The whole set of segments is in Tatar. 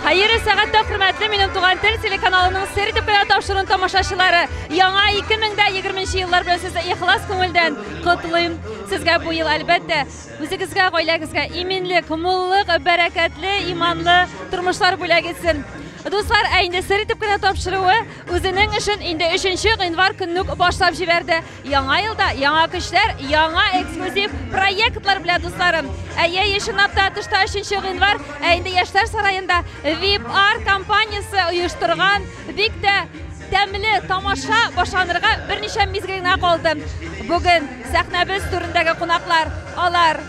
Хәерле сәгатьтә хөрмәтле минем туган тел телеканалының сер итеп кенә тапшыруын тамашачылары. Яңа 2020 еллар белән сезне ихлас күңелдән котлыйм. Сезгә бу ел әлбәттә үзегезгә, гаиләгезгә иминлек, муллык, бәрәкәтле, иманлы тормышлар бүләк итсен. Дуслар, ә инде сер итеп кенә тапшыруы үзенең эшен инде 3 гыйнвар көнне үк башлап җибәрде. Яңа елда яңа көчләр, яңа эксклюзив проектлар белән, дусларым. Әйе, ешынап та тышта 3 гыйнвар, ә инде Яшьләр сараенда VIP Art компаниясе оештырган бик тә тәмле тамаша башланырга берничә мизгел генә калды. Бүген сәхнәбез түрендәге кунаклар, алар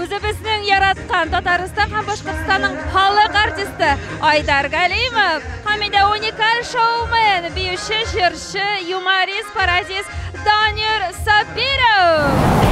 Үзебезнең яраткан Татарстан һәм Башкортстанның халык артисты Айдар Галимов. Һәм инде уникаль шоумен, биюче, җырчы, юморист, паразист Данир Сабиров.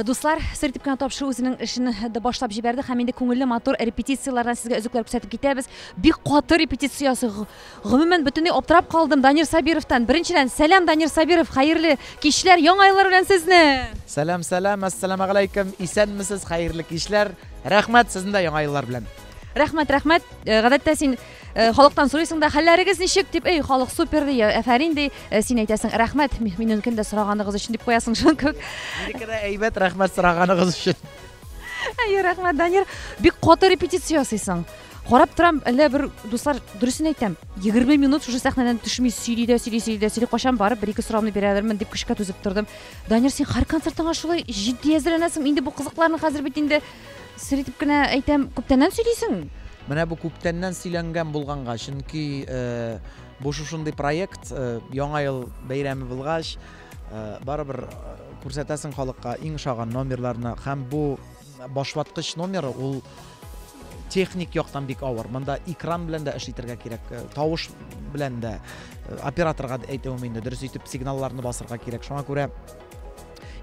Дуслар, сер дип кенә тапшыру үзенең эшен дә башлап җибәрде һәм инде күңелле матур репетицияләрдән сезгә өзекләр күрсәтеп китәбез. Бик каты репетиция ясый. Гомумән, бөтенләй аптырап калдым Данир Сабировтан. Беренчедән, сәлам, Данир Сабиров, хәерле кичләр, Яңа еллар белән сезне! Сәлам, сәлам, әссәламәгаләйкем, исәнмесез, хәерле кичләр, рәхмәт, сезне дә Яңа еллар белән! Рәхмәт, рәхмәт, гадәттә син. Э, халыктан сорыйсың да хәлләрегез ничек дип эй халык супер ди әфәрин ди э, син әйтәсең рәхмәт миненекен дә сораганыгыз өчен дип куясың шуның кебек минеке дә әйбәт рәхмәт сораганыгыз өчен әйе рәхмәт данир бик каты репетиция ясыйсың карап торам әллә бер дуслар дөресен әйтәм егерме минут шушы сәхнәдән төшми сөйли дә сөйли сөйли дә сөйли кайчан барып бер ике сорауны бирәләрмен дип көчкә түзеп тордым данир син һәр концертыңа шулай җитди әзерләнәсең инде бу кызыкларны хәзер бит инде Сер итеп кенә әйтәм, күптәннән сөйлисең? Менә бу күптәннән сөйләнгән булганга, чөнки э, бу шушындый проект э, яңа ел бәйрәме булгач, э, барыбер э, күрсәтәсең халыкка иң шаган номерларны һәм бу башлаткыч номеры ул техник яктан бик авыр. Монда экран белән дә эш итәргә кирәк, э, тавыш белән дә э, операторга әйтүем инде дөрес итеп сигналларны басырга кирәк. Шуңа күрә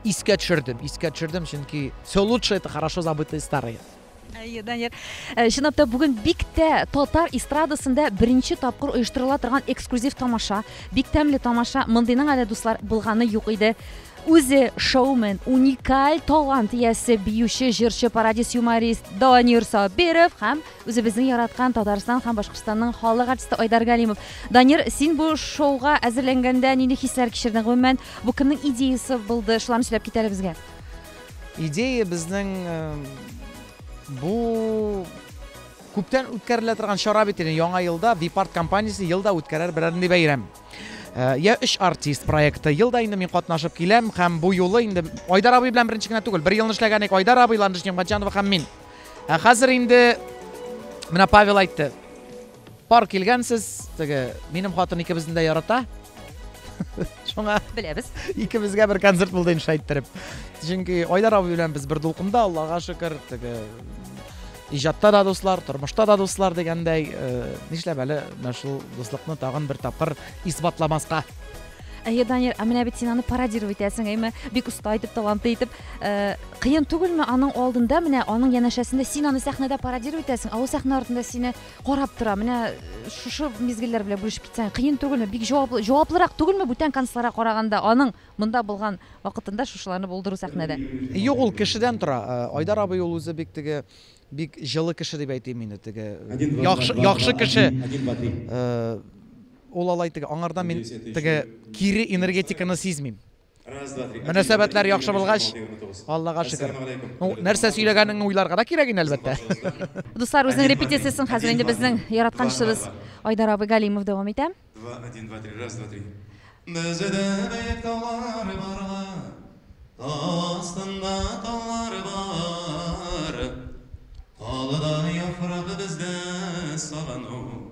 Искә төшердем, искә төшердем, чөнки все лучше это хорошо забытые старые. Әйе, Данияр. Э, чынлап та бүген бик тә татар эстрадасында беренче тапкыр оештырыла торган эксклюзив тамаша. Бик тәмле тамаша. Мондыйның әле дуслар булганы юк иде. Үзе шоумен, уникаль талант иясе, биюче, җырчы, пародист, юморист Данияр Сабиров һәм Үзебезнең яраткан Татарстан һәм Башкортстанның халык артисты Айдар Галимов. Данир, син бу шоуга әзерләнгәндә нинди хисләр кичердең? Гомумән, бу кемнең идеясы булды? Шуларны сөйләп кит әле безгә. Идея безнең э, бу күптән үткәрелә торган чара бит инде. Яңа елда Випарт компаниясе елда үткәрәр берәр нинди бәйрәм. Э, я өч артист проекты елда инде мин катнашып киләм һәм бу юлы инде Айдар абый белән беренче генә түгел, бер елны эшләгән идек Айдар абый, Ландыш Немгатҗанова һәм мин. Ә хәзер инде менә Павел әйтте. Пар килгәнсез, теге минем хатын икебезне дә ярата. Шуңа беләбез. Икебезгә бер концерт булды инде шайттереп. Чөнки Айдар абый белән без бер дулкында, Аллага шөкер, теге иҗатта да дуслар, тормышта да дуслар дигәндәй, э, нишләп әле менә шул дуслыкны тагын бер тапкыр исбатламаска? Әйе, Данир, ә менә бит син аны пародировать итәсең, әйме? Бик оста итеп, талантлы итеп. Э, кыен түгелме аның алдында, менә аның янәшәсендә син аны сәхнәдә пародировать итәсең, ә ул сәхнә артында сине карап тора. Менә э, шушы мизгелләр белән бүлешеп китсәң, кыен түгелме? Бик җаваплы, җаваплырак түгелме бүтән концертларга караганда аның монда булган вакытында шушыларны булдыру сәхнәдә? Юк, ул кешедән тора. Э, Айдар абый ул үзе бик теге бик җылы кеше дип әйтим инде теге. Яхшы, яхшы кеше. Ул алай теге, аңардан мин теге кире энергетиканы сизмим. Мөнәсәбәтләр яхшы булгач, Аллага шөкер. Ну, нәрсә сөйләгәнеңне уйларга да кирәк инде, әлбәттә. Дуслар, үзенең репетициясен хәзер инде безнең яраткан кешебез Айдар абый Галимов дәвам итә. Два, один, два, три, раз, два, три. Бездә биек таулар барга, тау астында таулар бар. Калыдай яфрак бездә сагыну.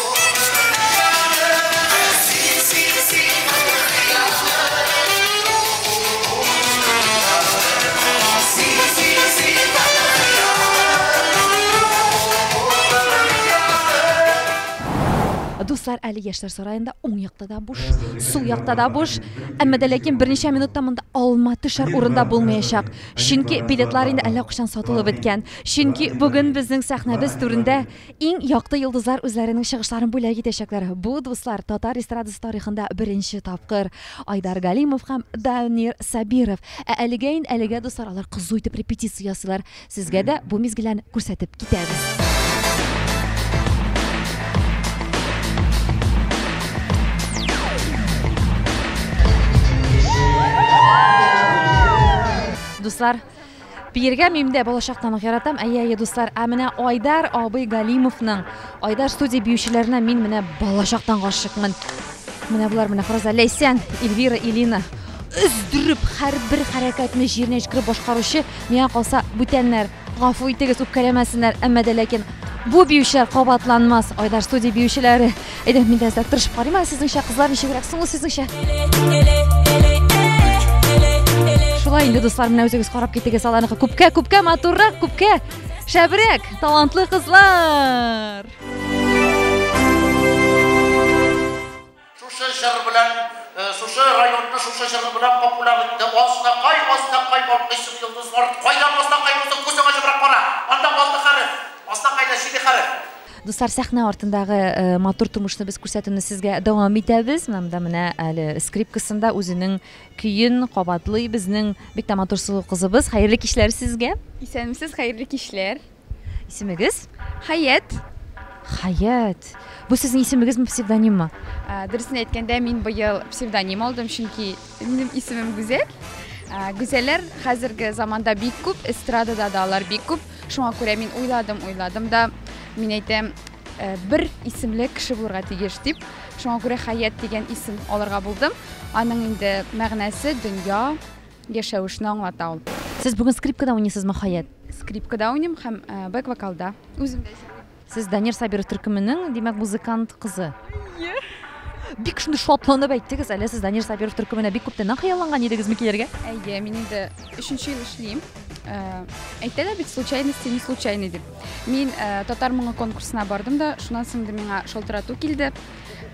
Дуслар, әле яшьләр сараенда уң якта да буш, сул якта да буш. Әмма дә ләкин берничә минутта монда алма төшәр урында булмаячак. Чөнки билетлар инде әллә кайчан сатылып беткән. Чөнки бүген безнең сәхнәбез түрендә Иң якты йолдызлар үзләренең чыгышларын бүләк итәчәкләр. Бу, дуслар, татар эстрадасы тарихында беренче тапкыр. Айдар Галимов һәм Данир Сабиров. Ә әлегә ин әлегә, дуслар, алар кызу итеп репетиция ясыйлар. Сезгә дә бу мизгелләрне күрсәтеп китәбез. Дуслар, Биергә мин дә балачактан ук яратам. Әйе, әйе, дуслар. Ә менә Айдар абый Галимовның Айдар студия биючеләренә мин менә балачактан гашыкмын. Менә булар менә Фраза Ләйсән, Эльвира, Илина. Өздереп, һәрбер хәрәкәтне җиренә җиткереп башкаручы, миңа калса, бүтәннәр. Гафу итегез, үпкәләмәсеннәр, әмма дә ләкин бу биючеләр кабатланмас. Айдар студия биючеләре. Әйдә, мин дә әзрәк тырышып карыйм әле сезнеңчә, кызлар ничегрәк соң ул сезнеңчә? Шулай инде, дуслар, менә үзегез карап китегез аларныкы. Күпкә, күпкә матуррак, күпкә шәбрәк, талантлы кызлар! Шушы җыр белән, э, шушы районны шушы җыр белән популяр итте. Азнакай, Азнакай балкыйсың йолдызлар, кайда Азнакай булсаң күзең ачыбрак кара. Анда алты хәреф, Азнакайда җиде хәреф. Дуслар, сәхнә артындагы матур тумышны без күрсәтүне сезгә дәвам итәбез. Монда менә әле скрипкасында үзенең көен кабатлый безнең бик тә матур сылу кызыбыз. Хәерле кичләр сезгә. Исәнмесез, хәерле кичләр. Исемегез? Хәят. Хәят. Бу сезнең исемегезме, псевдониммы? Дөресен әйткәндә, мин быел псевдоним алдым, чөнки Минем исемем Гүзәл. Гүзәлләр хәзерге заманда бик күп, эстрадада да алар бик күп. Шуңа күрә мин уйладым, уйладым да, мин әйтәм, э, бер исемле кеше булырга тиеш дип. Шуңа күрә Хәят дигән исем алырга булдым. Аның инде мәгънәсе дөнья, яшәвешне аңлата ул. Сез бүген скрипкада уйныйсызмы, Хәят? Скрипкада уйныйм һәм э, бэк-вокалда. Үзем дә Сез Данир Сабиров төркеменең, димәк, музыкант кызы. Ие. Бик шундый шатланып әйттегез, әле сез Данир Сабиров төркеменә бик күптәннән хыялланган идегезме килергә? Әйе, мин инде өченче ел эшлим. Э, әйтәләр бит случайности не случайны дип мин э, татар моңы конкурсына бардым да шуннан соң да миңа шалтырату килде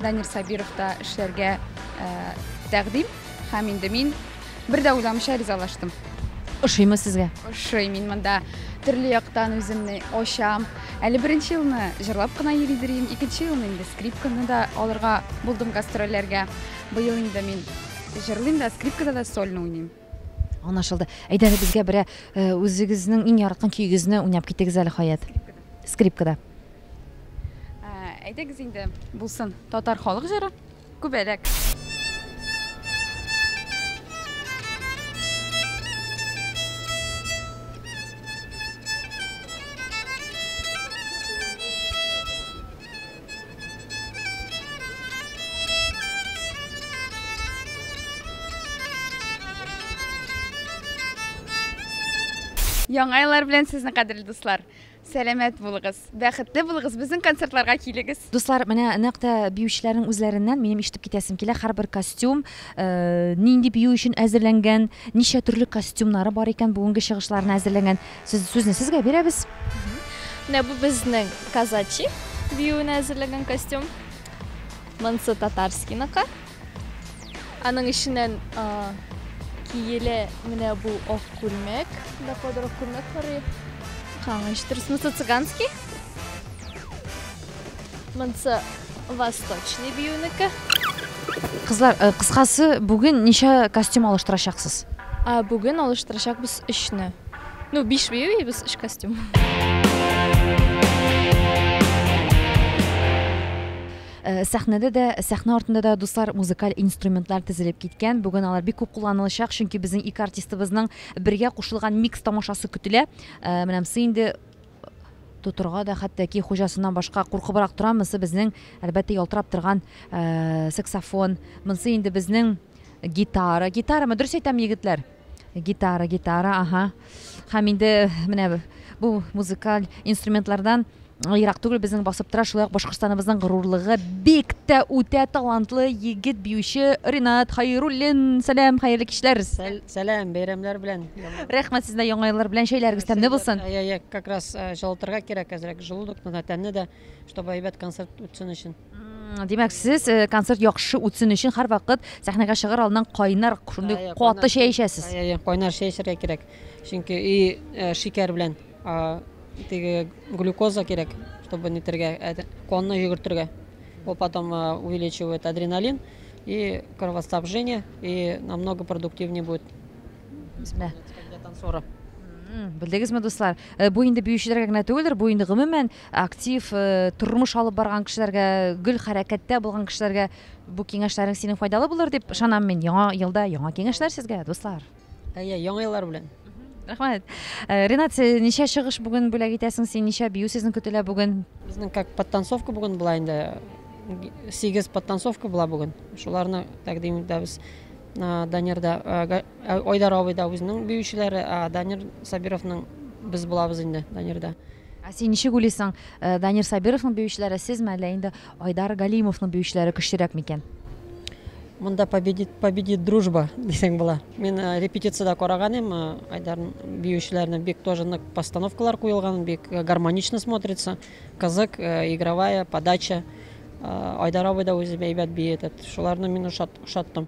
Данир Сабировта эшләргә э, тәкъдим һәм инде мин бер дә уйламыйча ризалаштым. Ошыймы сезгә? Ошый, мин монда төрле яктан үземне ачам. Әле беренче елны җырлап кына йөри дирим, икенче елны инде скрипканы да алырга булдым гастрольләргә. Быел инде мин җырлыйм да, скрипкада да сольно уйныйм. Аңлашылды. Әйдә әле безгә берә э, үзегезнең иң яраткан көйегезне уйнап китегез әле Хаят. Скрипкада. Ә, Әйдәгез инде, булсын. Татар халык җыры күбәләк. Яңа еллар белән сезне кадерле дуслар. Сәламәт булыгыз, бәхетле булыгыз, безнең концертларга килегез. Дуслар, менә нәкъ тә биючеләрнең үзләреннән минем ишетеп китәсем килә. Һәрбер костюм э, нинди бию өчен әзерләнгән, ничә төрле костюмнары бар икән, бүгенге чыгышларына әзерләнгән. Сез сүзне сезгә бирәбез. Менә бу безнең казачи биюенә әзерләгән костюм. Монсы татарскийныкы. Аның эченнән киелә менә бу ак күлмәк. Да кадәр ак күлмәк карый. Каңыш дөресме, цыганский? Монсы восточный биюнеке. Кызлар, э, кыскасы, бүген ничә костюм алыштырачаксыз? А бүген алыштырачакбыз өчне. Ну, биш бию и без өч костюм. Э, сәхнәдә дә сәхнә артында да дуслар музыкаль инструментлар тезелеп киткән бүген алар бик күп кулланылачак чөнки безнең ике артистыбызның бергә кушылган микс тамашасы көтелә э, менә мсы инде тотырга да хәтта ки хуҗасыннан башка куркыбрак тора. Монсы безнең, әлбәттә, ялтырап торган э, саксофон. Монсы инде безнең гитара. Гитарамы? Дөрес әйтәм, егетләр? Гитара, гитара, ага. Һәм инде менә бу музыкаль инструментлардан ерак түгел безнең басып тора шулай ук башкортстаныбызның горурлыгы бик тә үтә талантлы егет биюче ринат хайруллин сәлам хәерле кичләр сәлам бәйрәмнәр белән Рәхмәт сезне яңа еллар белән чәйләрегез тәмле булсын. Я я как раз җылытырга кирәк әзрәк желудокны да тәнне дә, чтобы әйбәт концерт үтсен өчен. Димәк, сез концерт яхшы үтсен өчен һәрвакыт сәхнәгә чыгар алдыннан кайнар шундый каты чәй эчәсез. Я я кайнар чәй эчәргә кирәк. Чөнки и шикәр белән теге глюкоза кирәк, чтобы нитергә, конны йөгертергә. Ул потом увеличивает адреналин и кровоснабжение и намного продуктивнее будет. Бисмилла. Тәкбираттан соңра. Белдегезме, дуслар? Э, бу инде биючеләргә генә түгелдер, бу инде гомумән актив э, тормыш алып барган кешеләргә, гөл хәрәкәттә булган кешеләргә бу киңәшләрең синең файдалы булыр дип ышанам мин. Яңа елда яңа киңәшләр сезгә, дуслар. Әйе, яңа еллар белән. Рәхмәт. Э, Ренат, ничә чыгыш бүген бүләк итәсең син? Ничә бию сезнең көтелә бүген? Безнең как подтанцовка бүген була инде. 8 подтанцовка була бүген. Шуларны тәкъдим итәбез. Данирда Айдар абый да үзенең биючеләре, Данир Сабировның без булабыз инде Данирда. Ә син ничек уйлыйсың, Данир Сабировның биючеләре сезме, әллә инде Айдар Галимовның биючеләре көчлерәк микән? Монда победит, победит дружба дисәң була. Мин репетициядә караган идем, Айдар биючеләрне бик тоже нык постановкалар куелган, бик гармонично смотрится. Кызык, игровая, подача. Айдар абый да үзе әйбәт бии этот. Шуларны мин ошаттым.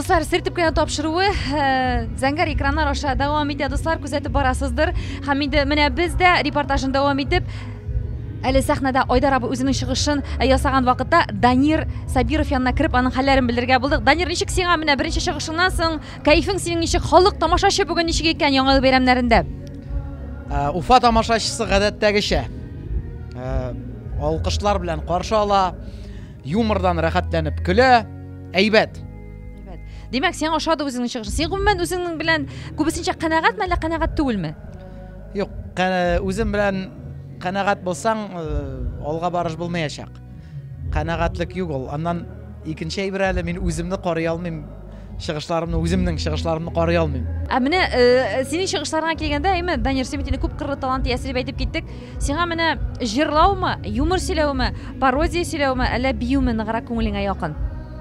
Дуслар, сертипканы тапшыруы э, зәңгәр экраннар аша дәвам итә. Дуслар, күзәтеп барасыздыр. Һәм инде менә без дә репортажын дәвам итеп Әле сәхнәдә Айдар абы үзенең чыгышын э, ясаган вакытта Данир Сабиров янына кереп, аның хәлләрен белергә булдык. Данир, ничек сиңа менә беренче чыгышыңнан соң Кәефең синең ничек? Халык, тамашачы бүген ничек икән Яңа ел бәйрәмнәрендә? Ә, Уфа тамашачысы гадәттәгечә ә, алкышлар белән каршы ала, юмордан рәхәтләнеп көлә. Әйбәт. Димәк, сиңа ошады үзеңнең чыгышың. Син гомумән үзеңнең белән күбесенчә канәгатьме, әллә канәгать түгелме? Юк, кә- үзем белән канәгать булсаң, э, алга барыш булмаячак. Канәгатьлек юк ул. Аннан икенче әйбер әле мин үземне карый алмыйм. Чыгышларымны үземнең чыгышларымны карый алмыйм. Ә менә э, синең чыгышларыңа килгәндә, әйме, Данир, син бит инде күп кырлы талант иясе дип әйтеп киттек. Сиңа менә җырлаумы, юмор сөйләүме, пародия сөйләүме, әллә биюме ныграк күңелеңә якын?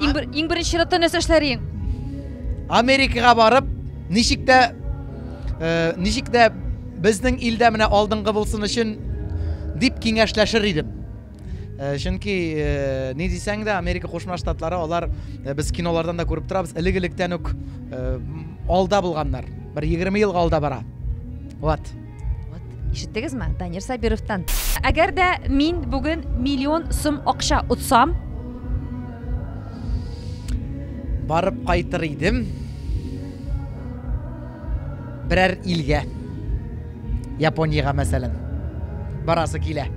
Иң бер иң беренче чиратта нәрсә эшләриең? Америкага барып, ничек тә э, ничек тә безнең илдә менә алдынгы булсын өчен дип киңәшләшер идем. Э, чөнки э, ни дисәң дә, Америка Кушма Штатлары алар э, без кинолардан да күреп торабыз, элек-электән үк э, алда булганнар. Бер 20 елга алда бара. Вот. Вот, ишеттегезме? Данир Сабировтан. Әгәр дә мин бүген миллион сум акча отсам, барып кайтыр идем берәр илгә. Япониягә мәсәлән. Барасы килә.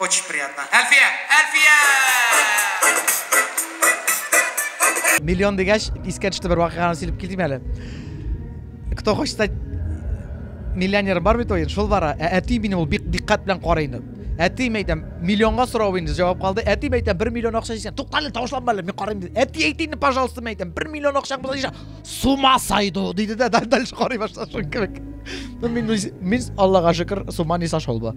Очень приятно. Әлфия! Әлфия! Миллион дигәч, искә төште бер вакыйганы сөйләп китим әле. Кто хочет стать миллионер бар бит ой, шул бара. Ә әти мине ул бик диккать белән карый инде. Әти мәйтәм, миллионга сорау инде җавап калды. Әти мәйтәм, 1 миллион акча исән. Туктале, тавышланма әле, мин карыйм диде. Әти әйт инде, пожалуйста, мәйтәм, 1 миллион акча булса исән. Сума сайду, диде дә, дальше карый башлады шул кебек. Мин, мин Аллага шөкер, сума не сошел бы.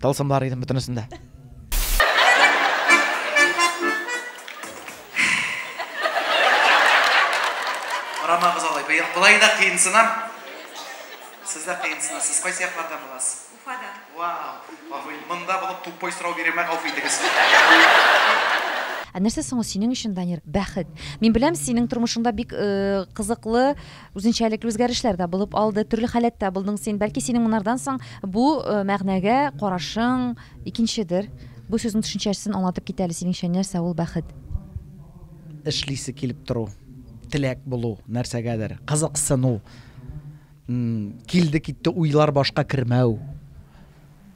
Тылсымлар идем бөтенесендә. Карамагыз алай, быел болай да кыенсынам. Сез дә кыенсынасыз. Кайсы яклардан буласыз? Уфадан. Вау! Гафу ит, монда булып тупой сорау бирәмә, гафу итегез. Ә нәрсә соң ул синең өчен, Данир, бәхет? Мин беләм, синең тормышыңда бик кызыклы Үзенчәлекле үзгәрешләр дә булып алды. Төрле халәттә булдың син. Бәлки синең монардан соң бу мәгънәгә карашың икенчедер. Бу сүзнең төшенчәсен аңлатып кит әле, синеңчә нәрсә ул бәхет? Эшлисе килеп тору, теләк булу нәрсәгәдер, кызыксыну, килде-китте уйлар башка кермәү,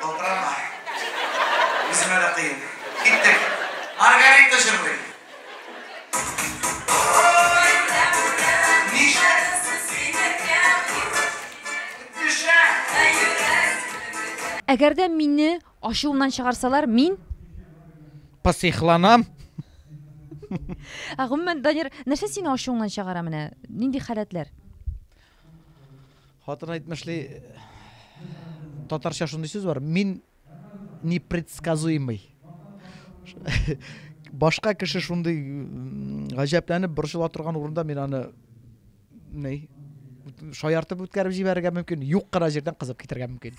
Калтырама. Үземә дә кыен. Киттек. Маргарита җырлый. Әгәр дә мине ачуымнан чыгарсалар, мин? Психланам. Ә гомумән, Данир, нәрсә сине ачуыңнан чыгара менә? Нинди халәтләр? Хатын әйтмешли, татарча шундый сүз бар, мин непредсказуемый. Башка кеше шундый гаҗәпләнеп борчыла торган урында мин аны ни шаяртып үткәреп җибәрергә мөмкин, юк кына җирдән кызып китәргә мөмкин.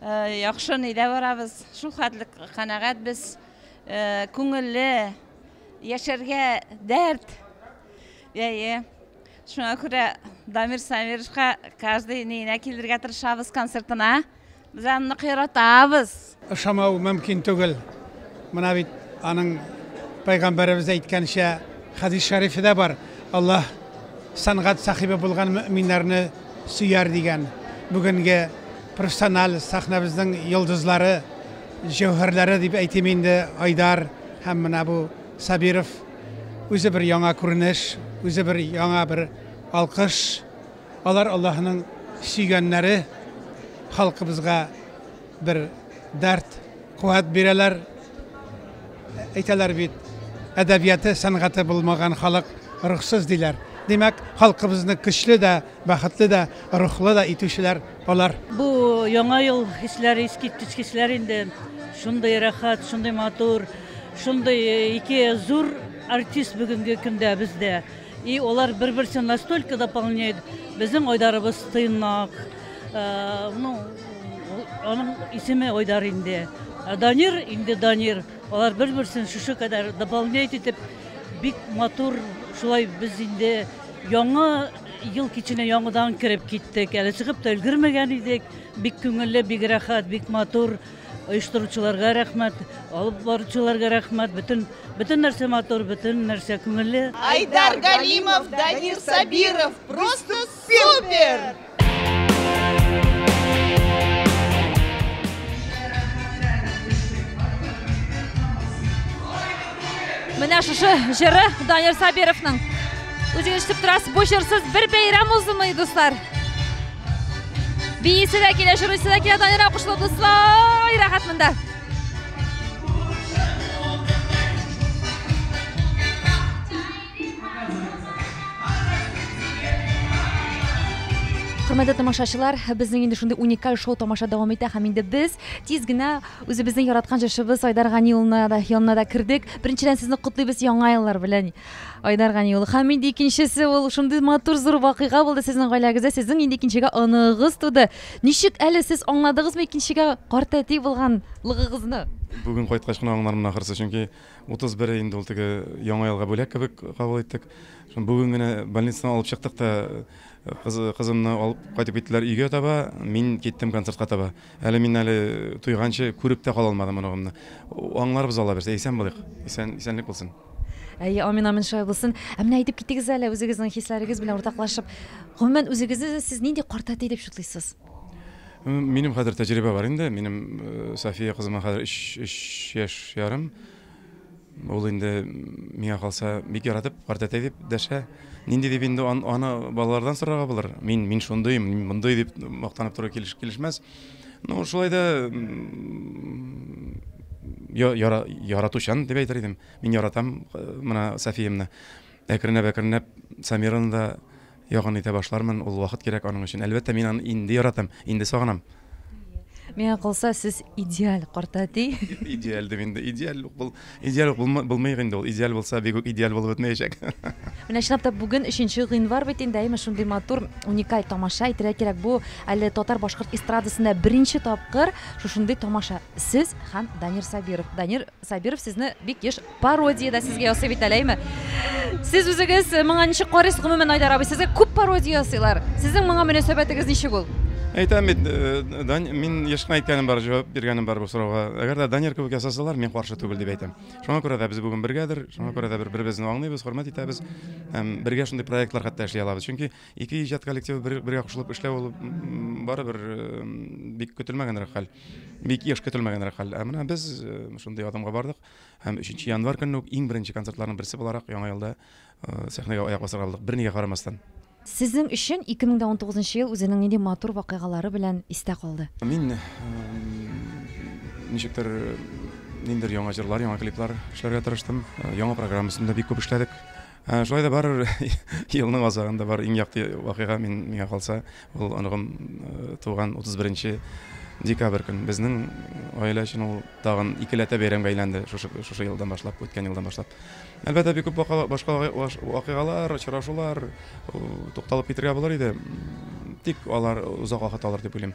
Яхшы нидә барабыз, шул хәтле канәгать без. Күңелле, яшәргә дәрт. Әйе. Шуңа күрә Дамир Самировичка каждый нигенә килергә тырышабыз концертына. Без аны нык яратабыз. Ышамау мөмкин түгел. Менә бит аның пәйгамбәребез әйткәнчә хәдис шәрифе дә бар. Аллаһ Сәнгать сәхибе булган мөэминнәрне сөяр, дигән бүгенге профессиональ сәхнәбезнең йолдызлары, җәүһәрләре дип әйтим инде, Айдар һәм менә бу Сабиров. Үзе бер яңа күренеш, үзе бер яңа бер алкыш. Алар Аллаһының сөйгәннәре, халкыбызга. Бер дәрт, куәт бирәләр. Әйтәләр бит, әдәбияты, сәнгате булмаган халык рухсыз диләр. Димәк, халкыбызны көчле дә, бәхетле дә, рухлы да итүчеләр алар. Бу яңа ел хисләре, искиткеч хисләр инде. Шундый рәхәт, шундый матур, шундый ике зур артист бүгенге көндә бездә. И алар бер берсен настолько дополняет безнең айдарыбыз тыйнак ну аның исеме айдар инде данир инде данир алар бер берсен шушы кадәр дополняет итеп бик матур шулай без инде яңа ел киченә яңадан кереп киттек әле чыгып та өлгермәгән идек бик күңелле бик рәхәт бик матур Оештыручыларга рәхмәт, алып баручыларга рәхмәт. Бөтен бөтен нәрсә матур, бөтен нәрсә күңелле. Айдар Галимов, Данир Сабиров, просто супер! Менә шушы җыры Данир Сабировның. Үзегез ишетеп торасыз, бу җырсыз бер бәйрәм узмый, дуслар. Биисе дә килә, җырыйсы да килә, Данира кушылу дуслар, рәхәт монда. Хөрмәтле тамашачылар, безнең инде шундый уникаль шоу тамаша дәвам итә һәм инде без тиз генә үзебезнең яраткан җырчыбыз Айдар Гани улына да янына да кердек. Беренчедән сезне котлыйбыз яңа еллар белән. Айдар Гани улы. Һәм инде икенчесе ул шундый матур зур вакыйга булды сезнең гаиләгездә. Сезнең инде икенчегә оныгыз туды. Ничек әле сез аңладыгызмы икенчегә картәти булганлыгыгызны? Бүген кайткач кына аңлармын ахрысы, чөнки 31 инде ул теге яңа елга бүләк кебек кабул иттек. Бүген генә больницадан алып чыктык та кыз, кызымны алып кайтып киттеләр өйгә таба, мин киттем концертка таба. Әле мин әле туйганчы күреп тә кала алмадым оныгымны. Аңларыбыз аллабирса, исән булыйк, исән, исәнлек булсын. Әйе, амин, амин, шулай булсын. Ә менә әйтеп китегез әле үзегезнең хисләрегез белән уртаклашып, гомумән үзегезне сез нинди картәти дип чутлыйсыз? Минем хәзер тәҗрибә бар инде, минем София кызыма хәзер өч, өч яшь ярым. Ул инде миңа калса бик яратып картәтәй дип дәшә. Нинди дип инде ан, аны балалардан сорарга булыр. Мин мин шундыйм, мин мондый дип мактанып тору килеш, килешмәс. Ну, шулай да яра, яратучан дип әйтер идем. Мин яратам э, менә Софиямны. Әкренләп-әкренләп Самираны да Якын итә башлармын, ул вакыт кирәк аның өчен. Әлбәттә, мин аны инде яратам, инде сагынам. Миңа калса, сез идеаль картәти. Идеаль дим инде, идеаль ук бул, идеаль ук булмый, булмыйк инде ул. Идеаль булса, бик үк идеаль булып бетмәячәк. Менә чынлап та бүген өченче гыйнвар бит инде, әйеме, шундый матур, уникаль тамаша, әйтергә кирәк, бу әле татар-башкорт эстрадасында беренче тапкыр шушындый тамаша, сез һәм Данир Сабиров. Данир Сабиров сезне бик еш Пародия дә сезгә ясый бит әле, әйме? Сез үзегез моңа ничек карыйсыз, гомумән Айдар абый, сезгә күп пародия ясыйлар. Сезнең моңа мөнәсәбәтегез ничек ул? Әйтәм бит, э, мин еш кына әйткәнем бар, җавап биргәнем бар бу сорауга. Әгәр дә Данир кебек ясасалар, мин каршы түгел дип әйтәм. Шуңа күрә дә без бүген бергәдер, шуңа күрә дә бер беребезне аңлыйбыз, хөрмәт итәбез. Һәм бергә шундый проектлар хәтта эшли алабыз. Чөнки ике иҗат коллективы бер, бергә кушылып эшләү ул барыбер бик көтелмәгәнрәк хәл. Бик еш көтелмәгәнрәк хәл. Ә менә без э, шундый адымга бардык. Һәм 3 январь көнне үк иң беренче концертларның берсе буларак яңа елда э, сәхнәгә аяк басарга булдык. Бернигә карамастан. Сезнең өчен 2019 ел үзенең нинди матур вакыйгалары белән истә калды? Мин ничектер ниндер яңа җырлар, яңа клиплар эшләргә тырыштым. Э, яңа программасында бик күп эшләдек. Ә, шулай да барыр елның азагында бар иң якты вакыйга мин миңа калса, ул оныгым э, туган 31 декабрь көн. Безнең гаилә өчен ул тагын икеләтә бәйрәмгә әйләнде шушы, шушы елдан башлап, үткән елдан башлап. Әлбәттә, бик күп башка вакыйгалар, очрашулар тукталып китергә булыр иде. Тик алар озак вакыт алыр дип уйлыйм.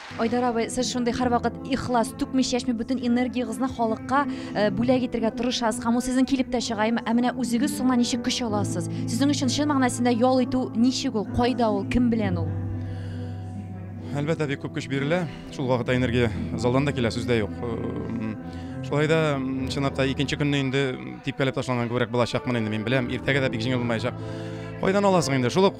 Айдар абый, сез шундый һәрвакыт ихлас, түкми-чәчми бөтен энергиягезне халыкка э, бүләк итергә тырышасыз һәм ул сезнең килеп тә чыга. Ә менә үзегез соңа ничек көч аласыз? Сезнең өчен чын мәгънәсендә ял итү ничек ул? Кайда ул? Кем белән ул? Әлбәттә, бик күп көч бирелә. Шул вакытта энергия залдан да килә, сүздә юк. Шулай да чынлап та икенче көнне инде типкәләп ташланган күбрәк булачакмын инде мин беләм. Иртәгә дә бик җиңел булмаячак. Кайдан аласың инде? Шул ук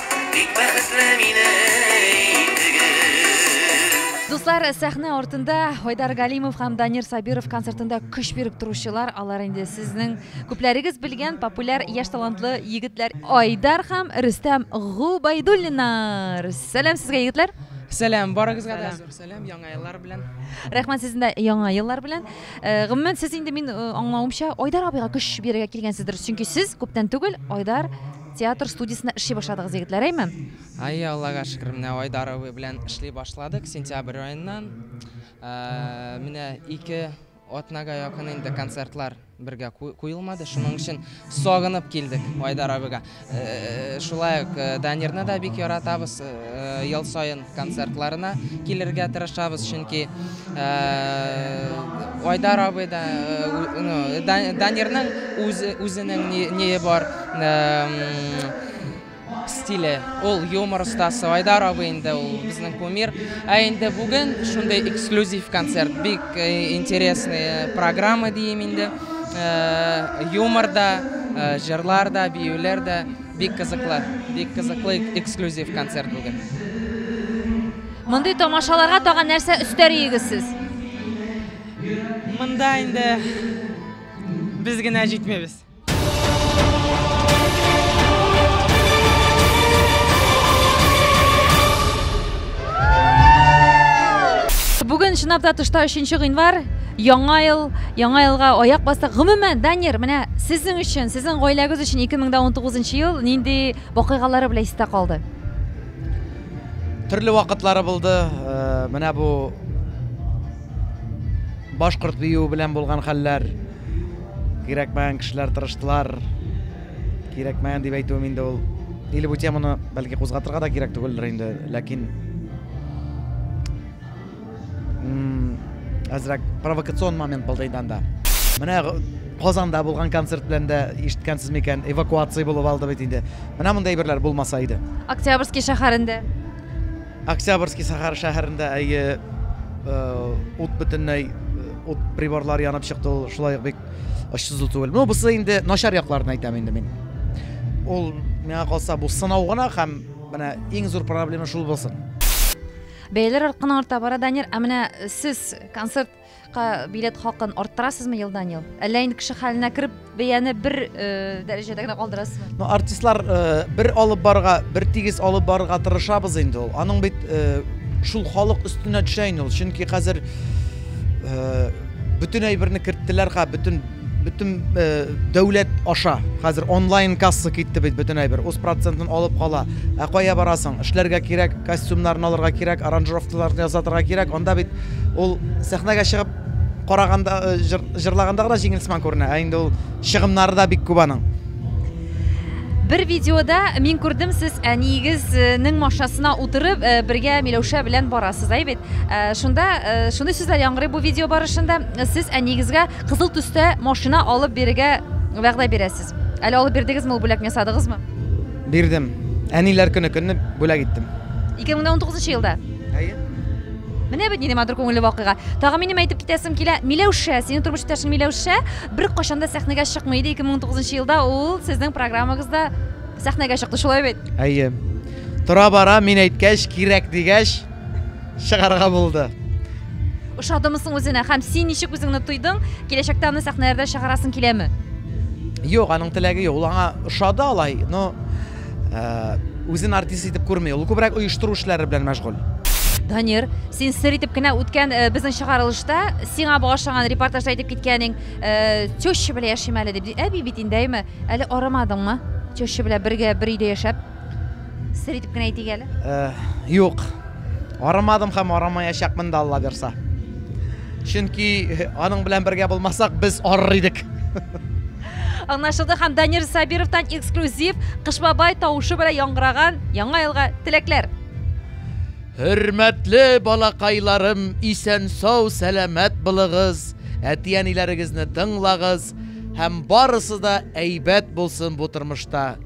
Бик бәхетле мине итегез. Дуслар, сәхнә артында Айдар Галимов һәм Данир Сабиров концертында көч биреп торучылар, алар инде сезнең күпләрегез белгән популяр яшь талантлы егетләр Айдар һәм Рөстәм Губайдуллиннар. Сәлам сезгә, егетләр! Сәлам, барыгызга да зур сәлам, яңа еллар белән. Рәхмәт сезне дә яңа еллар белән. Э, гомумән, сез инде мин э, аңлавымча Айдар абыйга көч бирергә килгәнсездер, чөнки сез күптән түгел Айдар Театр студиясендә эшли башладыгыз, егетләр, әйме? Әйе, Аллага шөкер, менә Айдар абый белән эшли башладык сентябрь аеннан. Менә ике атнага якын инде концертлар бергә куелмады, шуның өчен сагынып килдек Айдар абыйга. Шулай ук Данирны да бик яратабыз, ел саен концертларына килергә тырышабыз, чөнки Айдар абый да, Данирның үзенең ние бар стиле, ул юмор остасы, Айдар абый инде ул безнең кумир. Ә инде бүген шундый эксклюзив концерт, бик интересный программа дием инде. Юмор да, җырлар да, биюләр дә. Бик кызыклы, бик кызыклы эксклюзив концерт бүген. Мондый тамашаларга тагын нәрсә өстәриегез сез? Монда инде без генә җитмибез. Бүген чынлап та тышта 3 нче гыйнвар. Яңа ел, яңа елга аяк бастык. Гомумән, Данир, менә сезнең өчен, сезнең гаиләгез өчен 2019 ел нинди вакыйгалары белән истә калды? Төрле вакытлары булды. Менә бу башкорт биюе белән булган хәлләр. Кирәкмәгән кешеләр тырыштылар. Кирәкмәгән дип әйтүем инде ул. Или бу теманы бәлки кузгатырга да кирәк түгелдер инде, ләкин әзрәк провокацион момент булды инде анда менә казанда булган концерт белән дә ишеткәнсез микән эвакуация булып алды бит инде менә мондай әйберләр булмаса иде октябрьский шәһәрендә октябрьский шәһәр шәһәрендә әйе э, ут бөтенләй э, ут приборлар янып чыкты ул шулай бик очсызлы түгел ну бусы инде начар якларын әйтәм инде мин ул миңа калса бу сынау гына һәм менә иң зур проблема шул булсын Бәяләр арткан арта бара, Данир. Ә менә сез концертка билет хакын арттырасызмы елдан-ел? Әллә инде кеше хәленә кереп, бәяне бер э, дәрәҗәдә генә калдырасызмы? Ну, артистлар э, бер алып барга, бер тигез алып барырга тырышабыз инде ул. Аның бит э, шул халык өстенә төшә инде ул. Чөнки хәзер э, бөтен әйберне керттеләр, ха, бөтен Бөтен дәүләт аша хәзер онлайн касса китте бит бөтен әйбер. Үз процентын алып кала. Ә кая барасың? Эшләргә кирәк, костюмнарын алырга кирәк, аранжировкаларны ясатырга кирәк. Анда бит ул сәхнәгә чыгып караганда җырлаганда гына җиңел сыман күренә. Ә инде ул чыгымнары да бик күп аның. Бер видеода мин күрдем, сез әниегезнең машинасына утырып, э, бергә Миләүшә белән барасыз, әй бит? Э, шунда э, шундый сүзләр яңгырый бу видео барышында. Сез әниегезгә Кызыл төстә машина алып бирергә вәгъдә бирәсез. Әле алып бирдегезме, ул бүләкне ясадыгызмы? Бирдем. Әниләр көне көнне бүләк иттем. 2019 елда? Әйе. Менә бит нинди матур күңелле вакыйга. Тагы минем әйтеп китәсем килә, Миләүшә, синең тормыш иптәшең Миләүшә беркайчан да сәхнәгә чыкмый иде, 2019 елда ул сезнең программагызда сәхнәгә чыкты, шулай бит? Әйе. Тора-бара мин әйткәч, кирәк дигәч, чыгарга булды. Ошадымы соң үзенә һәм син ничек үзеңне тойдың? Киләчәктә аны сәхнәләрдә чыгарасың киләме? Юк, аның теләге юк. Ул аңа ошады алай, но э, үзен артист итеп күрми. Ул күбрәк оештыру эшләре белән мәшгуль. Данир, син сер итеп кенә үткән э, безнең чыгарылышта сиңа багышланган репортажда әйтеп киткәнең, э, теща белән яшим әле дип. Әби бит инде, әйме? Әле арымадыңмы? Теща белән бергә бер өйдә яшәп. Сер итеп кенә әйтик әле. Юк. Арамадым һәм арамаячакмын да Алла бирса. Чөнки аның белән бергә булмасак, без арыр идек. Аңлашылды һәм Данир Сабировтан эксклюзив Кыш бабай тавышы белән яңгыраган Яңа елга теләкләр. Хөрмәтле балакайларым, исән сау, сәламәт булыгыз, әти-әниләрегезне тыңлагыз һәм барысы да әйбәт булсын бу тормышта.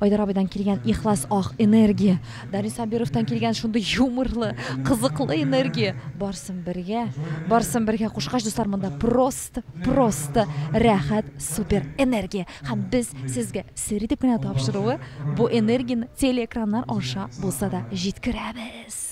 Айдар абыйдан килгән ихлас ах, энергия, Данис Сабировтан килгән шундый юморлы, кызыклы энергия, барсын бергә, барсын бергә кушкач, дуслар, монда просто, просто рәхәт, супер энергия. Һәм без сезгә сер итеп кенә тапшыруы, бу энергияне телеэкраннар аша булса да җиткерәбез.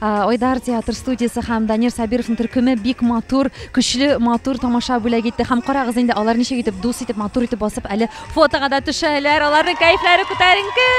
Айдар театр студиясе һәм Данир Сабировның төркеме бик матур, көчле, матур тамаша бүләк итте. Һәм карагыз инде, алар ничек итеп дус итеп, матур итеп басып әле фотога да төшәләр. Аларның кәефләре күтәренке.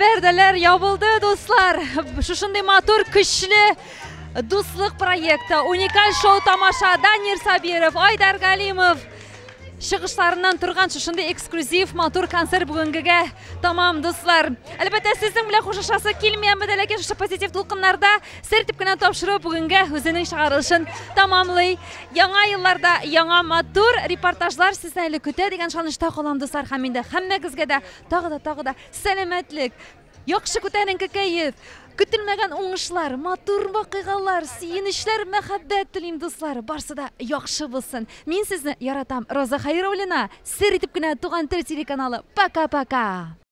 Пәрдәләр ябылды, дуслар. Шушындый матур, көчле дуслык проекты. Уникаль шоу тамаша Данир Сабиров, Айдар Галимов чыгышларыннан торган шушындый эксклюзив матур концерт бүгенгегә тамам, дуслар. Әлбәттә, сезнең белән хушашасы килмәямбез, ләкин шушы позитив тулкыннарда Сер итеп кенә тапшыру бүгенгә үзенең чыгарылышын тәмамлый. Яңа елларда яңа матур репортажлар сезне әле көтә дигән шанышта калам, дуслар, һәм инде һәммәгезгә дә тагы да тагы да сәламәтлек, яхшы күтәренке кәеф, көтелмәгән уңышлар, матур вакыйгалар, сөенечләр, мәхәббәт телим, дуслар. Барсы да яхшы булсын. Мин сезне яратам. Роза Хәйруллина, сер итеп кенә туган тел телеканалы. Пока-пока.